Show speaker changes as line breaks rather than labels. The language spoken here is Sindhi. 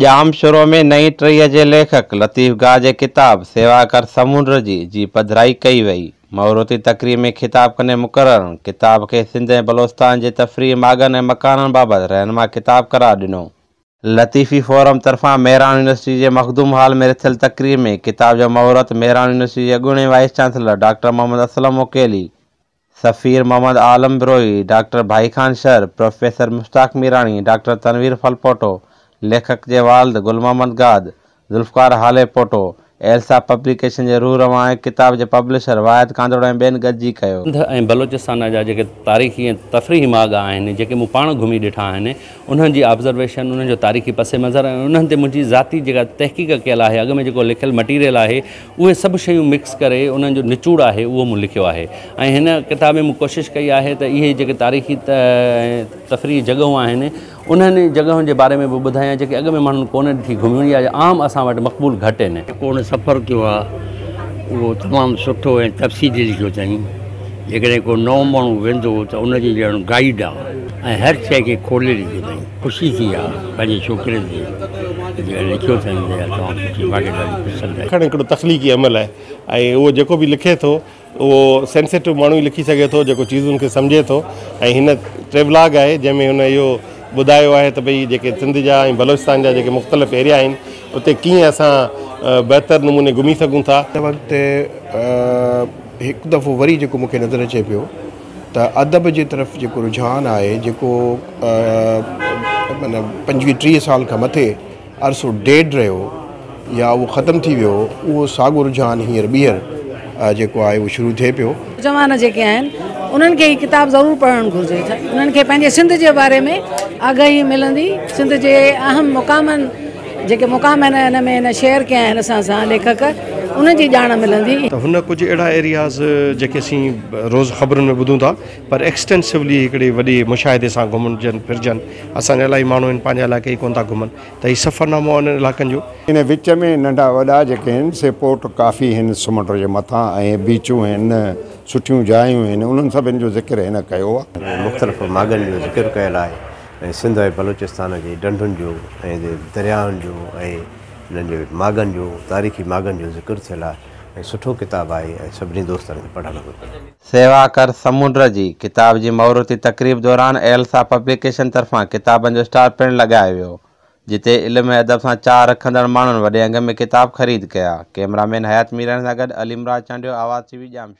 ڄام شورو ۾ نئين ٽهيء جي ليکڪ لطيف گاهه جي ڪتاب سيوا ڪر سمنڊ جي جي پڌرائي ڪئي وئي. موروٿي تقريب ۾ خطاب ڪندي مقررن ڪتاب کي سنڌ ۽ بلوچستان جي تفريحي ماڳن ۽ مڪانن بابت رهنما ڪتاب قرار ڏنو. لطيفي فورم طرفان مهراڻ يونيورسٽي جي مخدوم هال ۾ رٿيل تقريب ۾ ڪتاب جو مهورت مهراڻ يونيورسٽي جي اڳوڻي vice chancellor doctor Muhammad Aslam مڪيلي سفير Muhammad Alam Brohi, doctor Bhai Khan Shar, professor Mushtaq Mirani, doctor Tanveer Phulpoto, ليکڪ جي والد گل محمد گاد، ذوالفقار هاليپوٽو، ايلسا پبليڪيشن جي روح روان هڪ ڪتاب جي پبلشر واحد ڪانڌڙو ۽ ٻين گڏجي ڪيو. سنڌ ۽ بلوچستان
جا جيڪي تاريخي ۽ تفريحي ماڳ آهن، جيڪي مون پاڻ گهمي ڏٺا آهن، انهن جي آبزرويشن، انهن جو تاريخي پس منظر ۽ انهن تي منهنجي ذاتي جيڪا تحقيق ڪيل آهي، اڳ ۾ جيڪو لکيل مٽيريل آهي، اهي سڀ شيون مڪس ڪري انهن جو نچوڙ آهي اهو مون لکيو آهي ۽ هن ڪتاب ۾ مون ڪوشش ڪئي آهي ته اهي جيڪي تاريخي تفريحي جڳهون آهن انهن جڳهن جي باري ۾ به ٻڌايان جيڪي اڳ ۾ ماڻهن ڪونه ڏٺي گهميون يا عام اسان وٽ مقبول گهٽ آهن. جيڪو هن سفر ڪيو آهي
اهو تمام سٺو ۽ تفصيلي لکيو اٿائين. جيڪڏهن ڪو نئون ماڻهو ويندو ته ان جي ڄڻ گائيڊ آهي ۽ هر شيء کي کولي لکيو اٿائين. خوشي ٿي آ پنهنجي ڇوڪري تي جيئن لکيو اٿم جي تمام سٺي ماڳهين ڏاڍي پسند آئي. لکڻ هڪڙو تخليقي عمل
آهي ۽ اهو جيڪو به لکي ٿو اهو سينسيٽو ماڻهو ئي لکي سگهي ٿو جيڪو چيزن کي سمجهي ٿو ۽ هن ٽريولاگ آهي جنهن ۾ هن اهو ٻڌايو آهي ته ڀئي جيڪي سنڌ جا ۽ بلوچستان جا جيڪي مختلف ايريا آهن اتي ڪيئن اسان بهتر نموني گهمي سگهون ٿا. هن وقت
هڪ دفعو وري جيڪو مونکي نظر اچي پيو. ته ادب جي طرف جيڪو رجحان آهي جيڪو معنيٰ پنجويهه ٽيهه سال کان مٿي عرصو ڊيڊ رهيو يا اهو ختم ٿي ويو اهو ساڳو رجحان هينئر ٻيهر جيڪو آهي اهو شروع ٿئي پيو. نوجوان جيڪي آهن
انهن کي هي ڪتاب ضرور پڙهڻ گهرجي انهن کي پنهنجي سنڌ جي باري ۾ آگاهي ملندي سنڌ جي اهم مقامن جيڪي مقام هن هن ۾ هن شيئر ڪيا آهن اسان سان ليکڪ انهن جي ڄاڻ ملندي. ته هن ڪجهه اهڙا
ايرياز جيڪي اسين روز خبرن ۾ ٻڌون ٿا پر ايڪسٽينسوولي هڪڙي وڏي مشاهدي سان گهمجن ڦرجن اسان جا الاهي ماڻهو آهن پنهنجا علائقا ئي ڪونه ٿا گهمن ته هي سفرنامو آهي انهن علائقن جو. ان وچ ۾ ننڍا
وڏا جيڪي آهن سي پورٽ ڪافي آهن سمنڊ جي مٿان ۽ بيچون آهن سٺيون جايون آهن انهن سڀن جو ذڪر هن ڪيو آهي. مختلف ماڳن جو
ذڪر ڪيل آهي ۽ سنڌ ۽ بلوچستان جي ڍنڍن جو ۽ درياهن جو ۽ انهن جي ماڳن جو تاريخي ماڳن جو ذڪر ٿيل آهي ۽ سٺو ڪتاب آهي ۽ سڀني دوستن کي پڙهڻ گهرجي. سيوا ڪر
سمنڊ جي ڪتاب جي مهورتي تقريب دوران ايلسا پبليڪيشن طرفان ڪتابن جو اسٽال پڻ لڳايو ويو جتي علم ۽ ادب سان چاهه رکندڙ ماڻهن وڏي انگ ۾ ڪتاب خريد ڪيا ڪئميرا مين حيات ميرڻ سان گڏ عليمراز چانڊيو آواز ٽي وي ڄامشوري.